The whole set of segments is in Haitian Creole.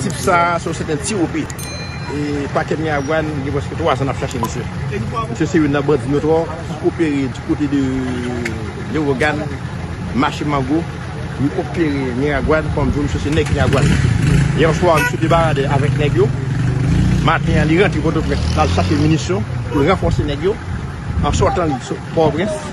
Tip sa a se yon sèten TOP. E pakè Miragoâne gen prèske 3 zan n ap chache misye. Misye se youn nan bandi notwò ki opere di kote de Lewogàn, Mache Mango. Li opere Miragoâne kòm di w misye se nèg Miragoâne. Yè swa misye debarade avèk nèg yo. Maten an li rantre Pòtoprens pou l al chache minisyon pou l ranfòse nèg yo an sòtan li sot Pòtoprens.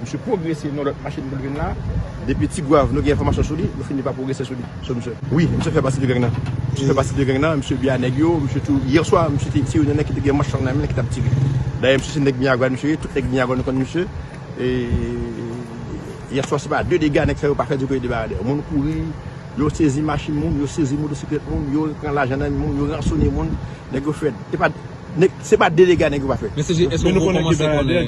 Misye pwogrese nan lòt machin pou l vin la. Depi Tigwav nou gen enfòmasyon sou li, nou fini pa pwogrese sou li, sou misye. Wi, misye fè pati de gang nan. Misye fè pati de gang nan, misye byen a nèg yo. Misye tou, yè swa, misye te, se youn nan nèg ki te gen manch lang nan men l ki t ap tire. Dayè misye se nèg Miagwàn misye ye, tout nèg Miagwàn konn misye. E, yè swa se pa de dega nèg sa yo pa fè di kote de Baradè. Moun kouri, yo sezi machin moun, yo sezi motosiklèt moun, yo pran lajan nan men moun, yo ransone moun. Nèg yo fè, e pa. Nèg se pa delega nèg yo pa fè. Men CG eske ou komanse konnen.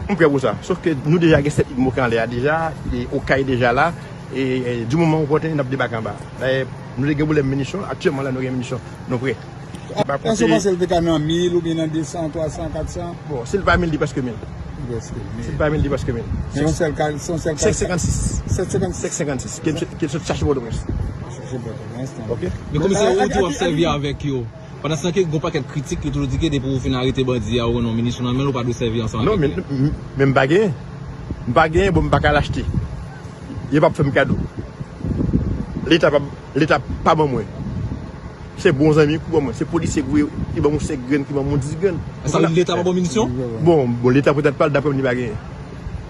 M prè pou sa. Sof ke nou deja gen 7 idmo ki anlè a deja e okay deja la e di moman opòten nap debake anba. Dayè nou te gen pwoblèm minisyon aktyèman la nou gen minisyon nou prè. Eske ou panse li te ka nan 1000 oubyen nan 200, 300, 400? Bon si li pa 1000 li prèske 1000. Li prèske 1000. Si li pa 1000 li prèske 1000. Se yon sèl ka, se yon sèl ka. 756. 756. 756 ke li sot chache potoprens. Men komisè ou di wap sèvi avèk yo pandan se tan ke gon pakèt kritik ki toujou di ke depi ou fin arete bandi a ou gen yon minisyon nan menl ou pa dwe sèvi ansanm avèk li. Non men mpa genyen, mpa genyen bon mpa ka al achte yo pap fèm kado leta pap leta pa ban mwen se bon zanmi ki ban mwen se polisye ki ban mwen 5 grenn ki ban mwen 10 grenn. Sa vle di leta pa baw minisyon? Bon leta petèt pral daprèm li pa genyen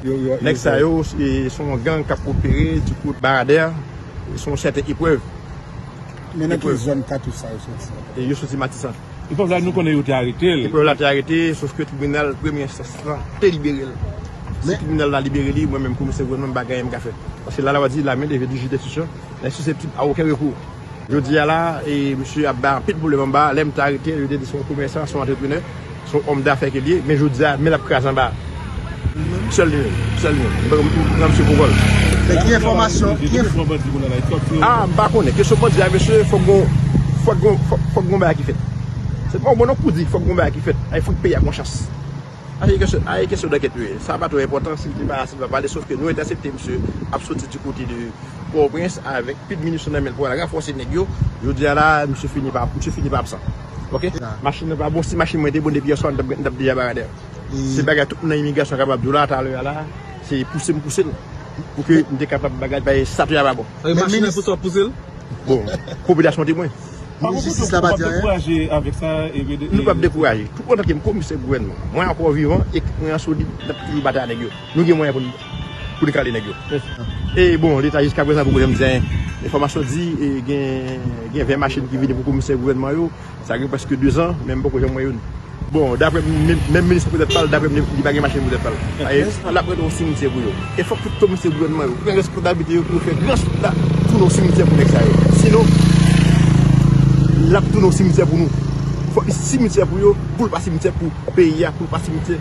nèg sa yo se son gang kap opere du côte Baradère. Se yon sèten eprèv. Men nan ki zòn katouch sa yo soti? Yo soti Matisan. Eprèv la nou konnen yo te arete l. Eprèv la te arete sof ke tribinal premye enstans la te libere l. Si tribinal la libere li, mwen menm komisè gouvènman m pa gen anyen m ka fè. Paske la lwa di la men leve di jij denstriksyon e siseptib a oken rekou. Jodi a la, misye ap bay anpil pwoblèm anba a. Lè m te arete l, yo te di se yon komèsan, se yon antreprenè. Se yon òm dafè ke li ye, men jodi a, men l ap kraze anba sèl li menm. Sèl li menm. Mwen pran misye pou vòlè. Men ki enfòmasyon, ki enfòmasyon. A, m pa konnen. Kesyon bandi a mesye, fòk gen yon, fòk gen yon, fòk gen yon bagay ki fèt. Se pa ou bon non pou di fòk gen yon bagay ki fèt. Ay fout peyi a gon chans. A se kesyon, a se kesyon dankèt li ye. Sa pa twò enpòtan si li te pala, si li pa pale, sof ke nou entèsepte misye ap soti di kote de Pòtoprens avèk pi de minisyon nan men l pou al ranfòse nèg yo. Jodi a la a, misye fini pa, misye fini pa absan. ok machine nan pa bon si machine mwen te bon depi yèswa nou tap deja baradè se bagay tout moun nan imigrasyon kapab diw la talè la se pouse m pousel pou ke m te kapab bagay paske statut a pa bon men minis bon popilasyon te mwen minis jistis la pa di anyen nou pap dekouraje tout otan ke m komisè gouvènman mwen ankò vivan ekip mwen an solid nap toujou batay a nèg yo nou gen mwayen pou nou. pou li kale nèg yo. E bon leta jiska prezan poko janm di anyen. Enfòmasyon di gen 20 machin ki vini pou komisè gouvènman yo, sa gen prèske 2 zan men mpoko janm wè youn. Bon daprè m, menm minis pou tèt pa l, daprè m li pa gen machin pou tèt pa l. Minis la prete yon simityè pou yo. E fòk tout komisè gouvènman yo pran responsablite yo pou yo fè gran chit la tounen yon simityè pou nèg sa yo. Sinon l ap tounen yon simityè pou nou. Fòk li simityè pou yo pou l pa simityè pou peyi a, pou l pa simityè.